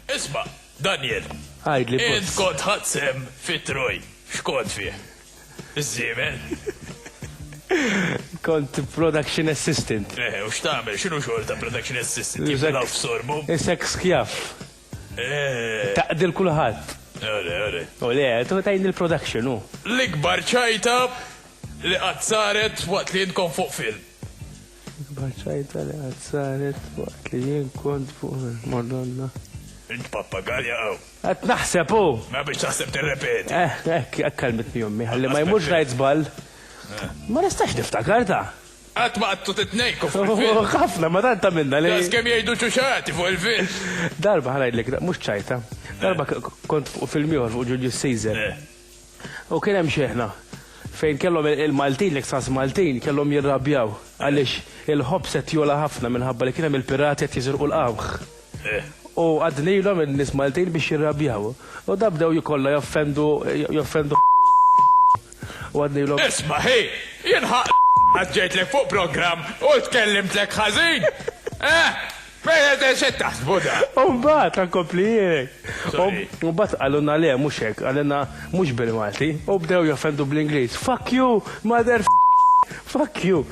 Isma', Daniel. Għajdli bus. Int kont ħadsem fit-troj. X'kont fih? Iż-żiemel? Kont production assistant. Eh, u x'tagħmel? X'inhu xogħol ta' production assistant? Jiblaw f'sorbu? Isek skjaf. Taqdil kulħadd. Ole, ole. Ole, tu tajni l-production, hu. L-ikbar ċajta li qatt saret waqt li jien kont fuq film. L-ikbar ċajta li qatt saret waqt li jien kont fuq film, Madonna. Int pappagalja hawn. Qed naħseb hu! Mela biex taħseb tirrepeti. Eh, hekk, hekk għallmitni ommi, ħalli ma jmurx ngħid żball. Ma nistax niftakar ta. Qatt ma qatlu titnejnku fuq il-film. Ohh ħafna, ma tant għamilna li. Daqs kemm jgħidu ċuċati fuq il-film. Darba, ħa ngħidlek, mhux ċajta. Darba kont fuq film ieħor fuq Julius Caesar. U kien hemm xeħna fejn kellhom il-Maltin, l-Extras Maltin, kellhom jirrabjaw għaliex il-ħobż qed jogħla ħafna minħabba li kien hemm il-pirati qed jiżirqu l-qamħ. U għaddnilhom in-nies Maltin biex jirrabjaw. U dan bdew jkollha joffendu joffendu u għaddnilhom. Isma' ħi, jien ħa qed ġejtlek fuq programm u tkellimtlek ħażin? Eħ! Pereże x'qed taħsbu da? U mbagħad ħa nkompli jien. Sorry. U mbagħad qalulna le mhux hekk, qalilna mhux bil-Malti u bdew joffendu bl-Ingliż, fuck you, mother fuck you.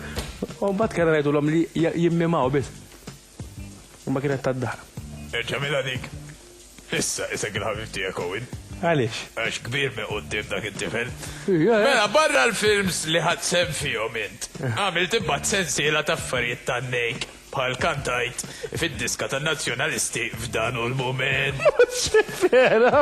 U mbagħad kellna ngħidulhom li jimmimaw biss. U ma kienet tad-dahar. Erġa' mila dik. Issa isek il-ħabib tiegħek Owen. Għaliex? Għax kbir minn quddiem dak it-tifel. Mela, barra l-films li ħadt sehem fihom int, għamilt imbagħad sensiela ta' affarijiet tan-nejk bħal kantajt fid-diska tan-Nazzjonalisti f'dan hu l-mument. Mhux vera!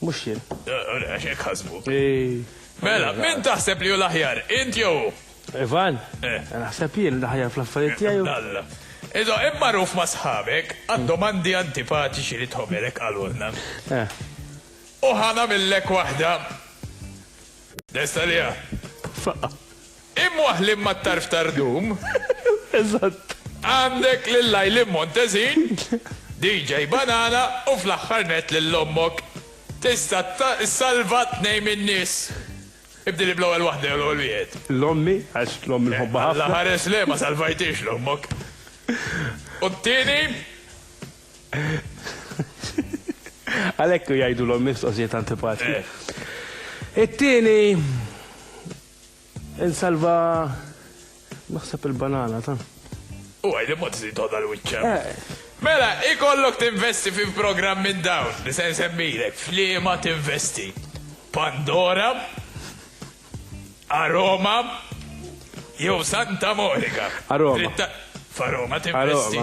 Mhux jien. Għax hekk ħasbu. Mela, min taħseb li hu l-aħjar, int jew hu? Ivan, naħseb jien l-aħjar fl-affarijiet tiegħi u. Abdalla. Iżgħo, int magħruf ma' sħabek għad-domandi antipatiċi li tħobb, hekk qalulna. U ħa nagħmillek waħda. Lest għaliha? Faqqa'. Imwaħħlin mat-tarf ta' rdum. Eżatt. Għandek lil Lajlin Montezin, DJ Banana u fl-aħħar nett lil ommok. Tista' ssalva tnejn min-nies. Ibdilli bl-ewwel waħda jew l-ewwel wieħed. L-ommi, għax l-ommi nħobbha ħafna. Alla ħares le, ma salvajthiex l-ommok. U t-tieni? Għalhekk jgħidu l-ommi mistoqsijiet antipatiċi. It-tieni? Insalva naħseb il-banana ta. U għaj li mod zid għoda l-wicċa. Mela, ikollok tinvesti fi f'program minn dawn li se nsemmilek f'liema tinvesti. Pandora, Aroma, jew Santa Monica. Aroma. F'Aroma tinvesti.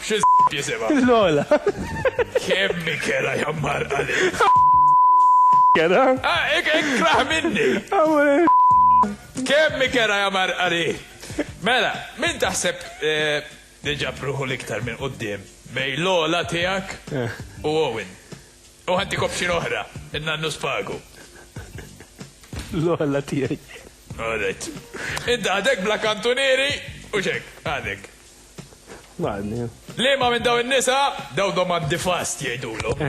Xi jisimha? Lola. Kemm ikelha jammarrqa lil. Kera. Ah, ikraħ minni! Kemm ikelha jammarrqa li. Mela, min taħseb li ġab ruħu l-iktar minn quddiem bejn Lola tiegħek u Owen? U ħantik option oħra, in-nannu spagu. Lola tiegħi. All right. Int għadek bla kantunieri u x'hekk, għadek. Liema minn dawn in-nisa, dawn domandi fast jgħidulhom,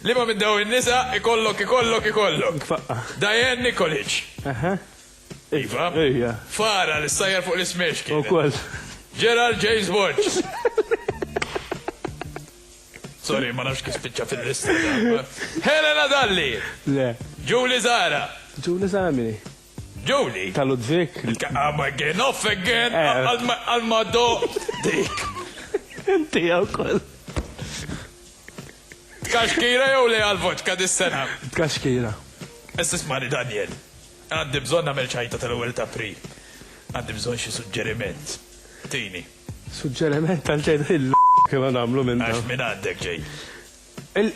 liema minn dawn in-nisa ikollok ikollok ikollok? Diane Nikolic. Iva. Fara li ssajjar fuq l-ismiex kienet. Ukoll. Gerald James Borges. Sorry, ma nafx kif spiċċa fil-lista. Helena Dalli. Le. Julie Zara. Julie Zara mini? Julie. Ta' Ludwig. I'm again off again. Għal ma do dik. Inti għaw kol. Tkaxkira jew li għal vodka dis-sena? Tkaxkira. Essis mani Daniel. Għandi bżon namel ċajta tal-ewel ta' pri. Għandi bżon xie suġġeriment. Tini. Suġġeriment tal-ċajta il kif għamlu minn. Għax minn għandek ġej.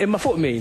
Imma fuq min?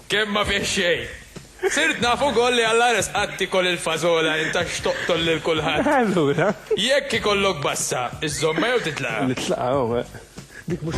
Kemm ma fih xejn! Sirt naf ukoll li Alla resqak tiekol il-fażola int għax toqtol lil kulħadd. Allura? Jekk ikollok bassa, iżżommha jew titlaqha? Nitlaqha, ohh. Dik mhux.